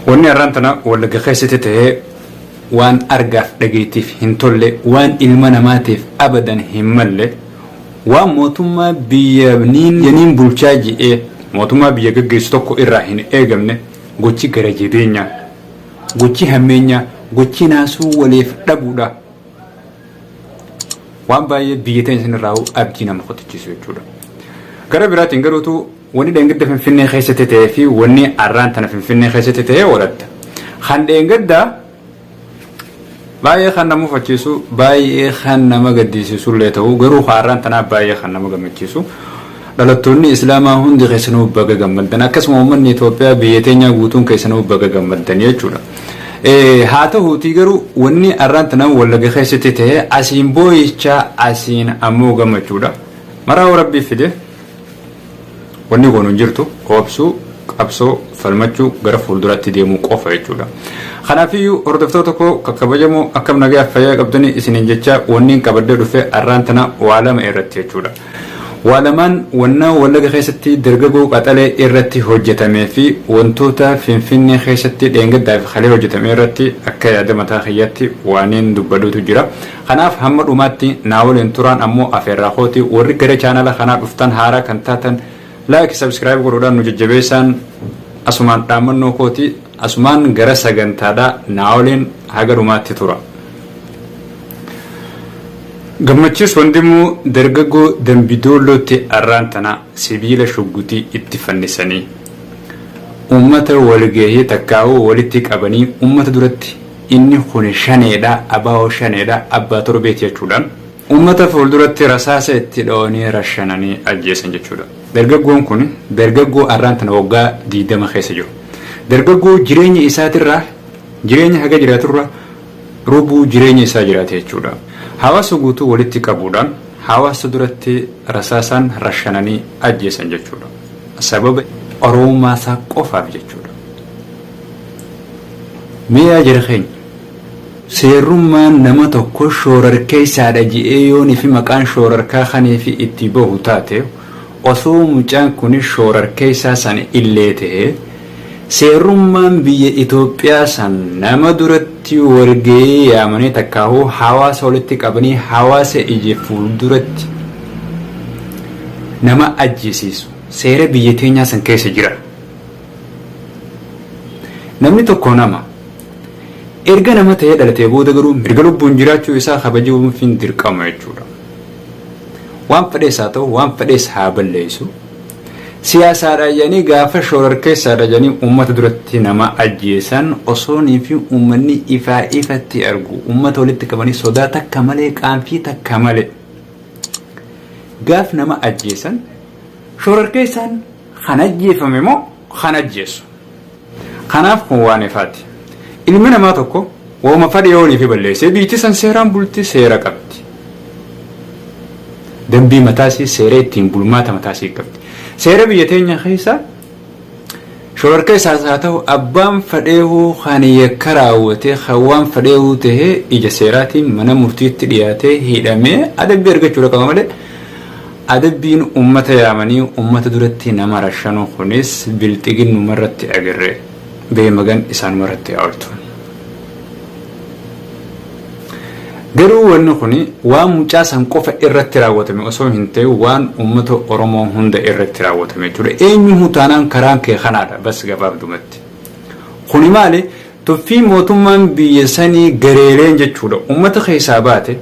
Wanni har'aan tana wallagga keessatti ta'ee waan argaaf dhageettiif hin tolle waan ilma namaatiif abadan hin malle waan mootummaa biyya yaniin bulchaa ji'ee mootummaa biyya gaggeessu tokko irraa hin eegamne gochi gara jabeenyaa gochi hammeenyaa gochi naasuu waliif dhabuudha. waan baay'ee biyya teenya sanirraa abdii nama kutachiisu jechuudha. Gara biraatiin garuutu wanni dheengadda Finfinnee keessatti ta'ee fi wanni arraan tana Finfinnee keessatti ta'ee oolatta. Kan dheengadda baay'ee kan nama mufachiisu baay'ee kan nama gaddisiisu illee ta'u garuu kan arraan tanaa baay'ee kan nama gammachiisu. Dhalattoonni Islaamaa hundi keessanuu baga gammaddan. Akkasuma uummanni Itoophiyaa biyya teenyaa guutuun keessanuu baga gammaddan jechuudha. Haa tahuutii garuu wanni arraan tanaan Wallagga keessatti ta'e asiin booyichaa asiin ammoo gammachuudha. Maraa'uu rabbii fide wanni goonu hin jirtu obsuu qabsoo falmachuu gara fuulduraatti deemuu qofa jechuudha. Kanaafiyyuu hordoftoota koo kakkabajamoo akkam nagaa fayyaa qabdanii isiniin jechaa wanniin qabadde dhufe arraan tana waa lama irratti jechuudha. Waa lamaan wannaa Wallaga keessatti dargagoo qaxalee irratti hojjatamee fi wantoota Finfinnee keessatti dheengaddaa fi kalee hojjatame irratti akka yaada mataa kiyyaatti waaniin dubbaduutu jira. Kanaaf hamma dhumaatti naa waliin turaan ammoo afeerraa kooti warri gara chaanala kanaa dhuftan haaraa kan taatan Like subscribe godhuudhaan nu jajjabeessaan asumaan dhaammannoo kooti asumaan gara sagantaadhaa naa waliin haga dhumaatti tura. Gammachiis Wandimuu dargaggoo Dambidoollootti arraan tana sibiila shuggutii itti fannisanii uummata walgahii takkaa'uu walitti qabanii uummata duratti inni kun shaneedha abaa'oo shaneedha abbaa torbeeti jechuudhaan Uummata fuulduratti rasaasa itti dhoo'anii rashananii ajjeesan jechuudha. Dargaggoon kun dargaggoo arraan tana waggaa 20 keessa jiru. Dargaggoo jireenya isaatirraa jireenya haga jiraaturra rubuu jireenya isaa jiraate jechuudha. Hawaasa guutuu walitti qabuudhaan hawaasa duratti rasaasaan rashananii ajjeesan jechuudha. Sababa Oromummaa isaa qofaaf jechuudha. Mee yaa jara keenya! Seerrummaan nama tokko shoorarkeessaadha je'ee yoo nifi maqaan shoorarkaa kaniifi itti bahu taate, osoo mucaan kuni shoorarkeessaa san illee tahee, seerrummaan biyya Itoophiyaa san nama duratti wal gayee yaamanii takkaahuu hawaasa walitti qabanii hawaasa ija fuulduratti nama ajjeesiisu seera biyya teenyaa san keessa jira. Namni tokko nama. Erga nama ta'ee dhalatee booda garuu mirga lubbuun jiraachuu isaa kabajamuufiin dirqama jechuudha. Waan fedhees haa ta'u, waan fedhees haa balleessu. Siyaasaadha jedhanii gaafa shororkeessaadha jedhanii uummata duratti nama ajjeesan osoonii fi uummanni ifaa ifatti argu. Uummata walitti qabanii sodaa takka malee qaanfii takka malee. Gaaf nama ajjeesan shororkeessaan kan ajjeefame moo kan ajjeesu? Kanaaf kun waan ifaati. Ilmi namaa tokko woma fadhe yoo waliifi balleessee biyyiti san seeraan bulti, seera qabdi. Dambii mataa isii, seera ittiin bulmaata mataa isii qabdi. Seera biyya teenya keessa shororkeessaas haa ta'u abbaan fadheehuu kan yakka raawwatee kan waan fadheehuu tahee ija seeraatiin mana murtiitti dhiyaatee hidhamee adabbii argachuudha qaba malee Adabbiin ummata yaamanii ummata duratti nama rashanuu kunis bilxiginnuma irratti agarre. Gahee magan isaanuma irratti haa oltu. Garuu wanni kuni waan mucaa san qofa irratti raawwatame osoo hin ta'in waan ummata Oromoo hunda irratti raawwatame jechuudha. Eenyuhuu taanaan karaan kee kanaadha bas gabaabdumatti. Kuni maali? Tuffii mootummaan biyya sanii gareeleen jechuudha ummata keessaa baate,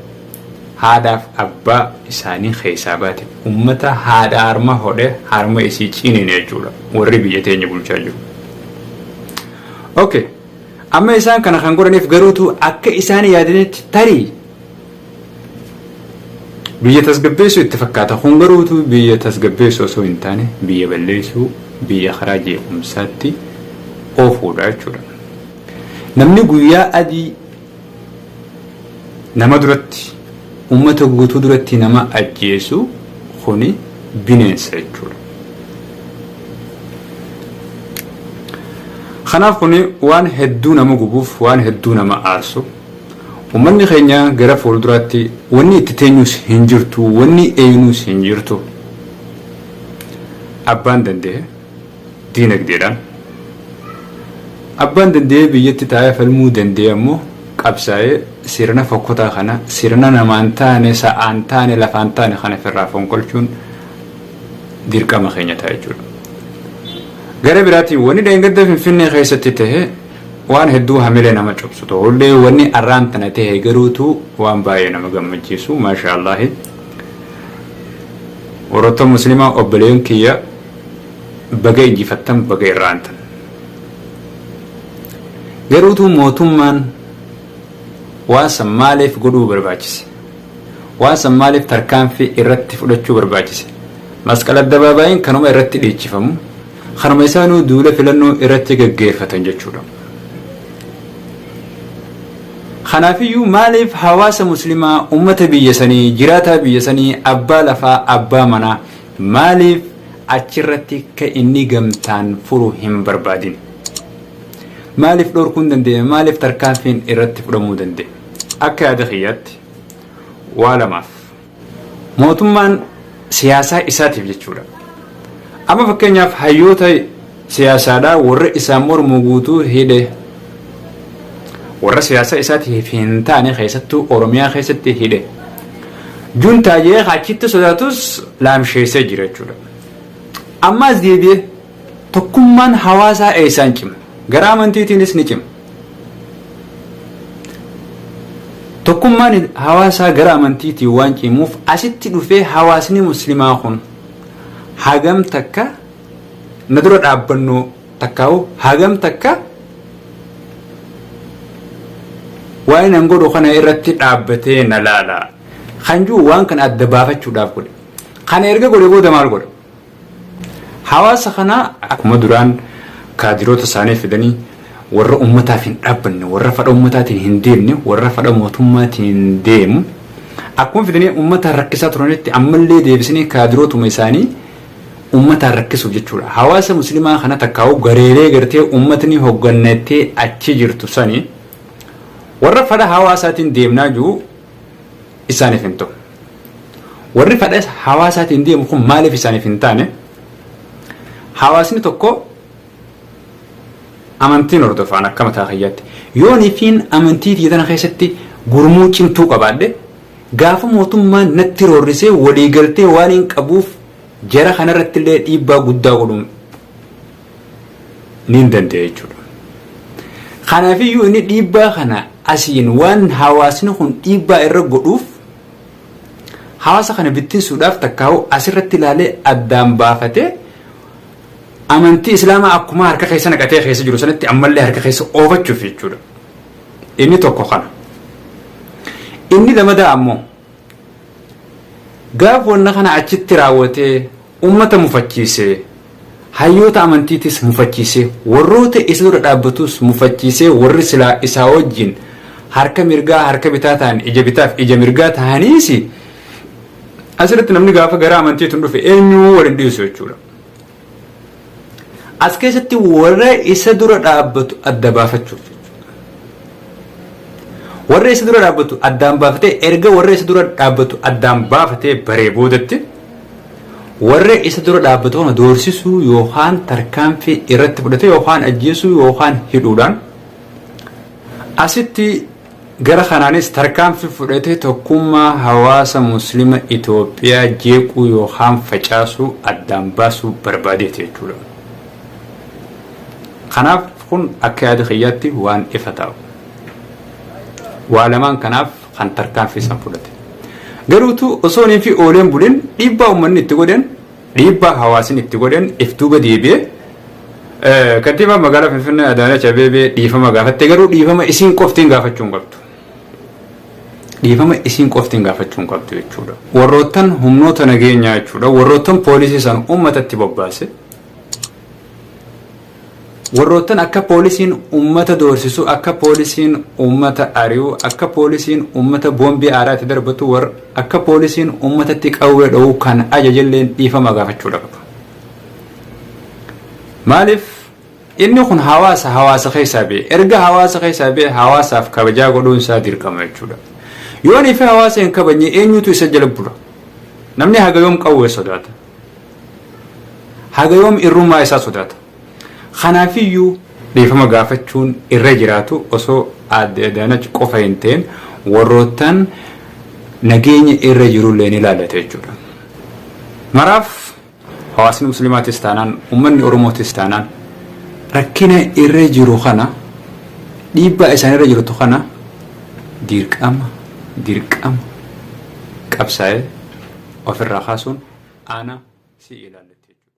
Haadhaaf abbaa isaanii keessaa baate ummata haadha harma hodhe harma isii ciniine jechuudha warri biyya teenya bulchaa jiru. Okay. Amma isaan kana kan godhaniif garuutu akka isaan yaadanitti tarii biyya tasgabbeessuu itti fakkaata. Kun garuutu biyya tasgabbeessuu osoo hin taane biyya balleessuu biyya karaa jeequmsaatti oofuudha jechuudha. Namni guyyaa adii nama duratti ummata guutuu duratti nama ajjeesu kuni bineensa jechuudha. Kanaaf kuni waan hedduu nama gubuuf waan hedduu nama aarsu ummanni keenya gara fuulduraatti wanni itti teenyuus hin jirtu wanni eenyuus hin jirtu abbaan danda'e diinagdeedhaan. Abbaan danda'ee biyyatti taa'ee falmuu danda'e ammoo qabsaa'ee sirna fokkotaa kana sirna namaan taane, sa'aan taane, lafaan taane kana ofirraa fonqolchuun dirqama keenya ta'a jechuudha. Gara biraatiin wanni dheengadda Finfinnee keessatti ta'e waan hedduu hamilee nama cobsu ta'ullee wanni arraan tana ta'e garuutu waan baay'ee nama gammachiisu maashaa Allaahi. Warroota musliimaa obboleeyyan kiyya Baga injifattan baga irra aantan. Garuu utuu mootummaan waan san maaliif godhuu barbaachise? Waan san maaliif tarkaanfii irratti fudhachuu barbaachise? Masqal Addabaabaayiin kanuma irratti dhiichifamu, kanuma isaanuu duula filannoo irratti gaggeeffatan jechuudha. Kanaafiyyuu maaliif hawaasa muslimaa, uummata biyya sanii, jiraataa biyya sanii, abbaa lafaa, abbaa manaa, Maaliif achirratti akka inni gamtaan furu hin barbaadin? Maaliif dhorkuun danda'e? Maaliif tarkaanfiin irratti fudhamuu danda'e? Akka yaada kiyyaatti waa lamaaf. Mootummaan siyaasaa isaatiif jechuudha. Amma fakkeenyaaf hayyoota siyaasaadha warra isaan mormu guutuu hidhe warra siyaasa isaatiif hin taane keessattuu oromiyaa keessatti hidhe juntaa jee achitti sodaatus laamsheessee jira jechuudha ammaas deebi'ee tokkummaan hawaasaa eessaan cima gara amantiitiinis ni cima tokkummaan hawaasaa gara amantiitiin waan cimuuf asitti dhufee hawaasni muslimaa kun hagam takka na dura dhaabbannoo takkaa'u hagam takka waa'ee nan godhu kana irratti dhaabbatee na laala kan jiru waan kana adda baafachuudhaaf godhe kana erga godhe booda maal godha hawaasa kana akkuma duraan kaadiroota isaanii fidanii warra ummataaf hin dhaabbanne warra fadha ummataatiin hin deemne warra fadha mootummaatiin hin deemu akkuma fidanii ummata rakkisaa turanitti ammallee deebisanii kaadirootuma isaanii ummataan rakkisuuf jechuudha. Hawaasa muslimaa kana takkaa'uu gareelee gartee ummatni hoggannattee achi jirtu sani warra fadha hawaasaatiin deemnaa jiru isaaniif hin ta'u. Warri fadha hawaasaatiin deemu kun maaliif isaaniif hin taane hawaasni tokko amantiin hordofaan akka mataa kiyyaatti yoonifiin amantii tiyya tana keessatti gurmuu cimtuu qabaadhe Gaafa mootummaan natti roorrisee waliigaltee waaniin qabuuf jara kanarrattillee dhiibbaa guddaa godhuun niin danda'a jechuudha. Kanaafiyyuu inni dhiibbaa kana asiin waan hawaasni kun dhiibbaa irra godhuuf hawaasa kana bittinsuudhaaf takkaa'u asirratti ilaalee addaan baafatee amantii islaamaa akkuma harka keessa naqatee keessa jiru sanatti ammallee harka keessa oofachuuf jechuudha. Inni tokko kana. Inni lamadaa ammoo gaaf wanna kana achitti raawwatee ummata mufachiisee hayyoota amantiitis mufachiisee warroota isa dura dhaabbatus mufachiisee warri silaa isaa wajjin harka mirgaa harka bitaa ta'an ija bitaaf ija mirgaa ta'aniis asirratti namni gaafa gara amantiitiin dhufe eenyuu waliin dhiisu jechuudha. As keessatti warra isa dura dhaabbatu adda baafachuuf warra isa dura dhaabbatu addaan baafatee erga warra isa dura dhaabbatu addaan baafatee baree boodatti warra isa dura dhaabbatu kana doorsisuu yookaan tarkaanfii irratti fudhate yookaan ajjeesuu yookaan hidhuudhaan asitti Gara kanaanis tarkaanfii fudhate tokkummaa hawaasa Muslima Itoophiyaa jeequu yookaan facaasuu addaan baasuu barbaadeeti jechuudha. Kanaaf kun akka yaada kiyyaatti waan ifa ta'u. Waa lamaan kanaaf kan tarkaanfii san fudhate. Garuutu osoo hin fi ooleen bulin dhiibbaa uummanni itti godhen Dhiibbaa hawaasin itti godhen if duuba deebi'e. Kantiibaan magaalaa Finfinnee Adaanach Abeebee dhiifama gaafatte garuu dhiifama isiin qoftiin gaafachuu hin qabdu. Dhiifama isiin qoftiin gaafachuu hin qabdu jechuudha. Warroottan humnoota nageenyaa jechuudha warroottan poolisii san uummatatti bobbaase. Warroottan akka poolisiin uummata doorsisu, akka poolisiin uummata ari'u, akka poolisiin uummata boombii aaraa itti darbatu, war, akka poolisiin uummatatti qawwee dho'u kan ajajelleen dhiifama gaafachuu dha qaba. Maaliif inni kun hawaasa, hawaasa keessaa ba'e. Erga hawaasa keessaa ba'e hawaasaaf kabajaa godhuun isaa dirqama jechuu dha. Yoo inni fi hawaasa hin kabajne eenyutu isa jala bula? Namni haga yoom qawwee sodaata? Haga yoom irrummaa isaa sodaata? Kanaafiyyuu dhiifama gaafachuun irra jiraatu osoo aadde Adaanach qofa hin ta'in warroottan nageenya irra jirullee ni laallata jechuudha. Maraaf hawaasni musliimaatis taanaan uummanni Oromootis taanaan rakkina irra jiru kana dhiibbaa isaan irra jirtu kana dirqama dirqama qabsaa'ee ofirraa kaasuun aanaa si ilaallatti jechuudha.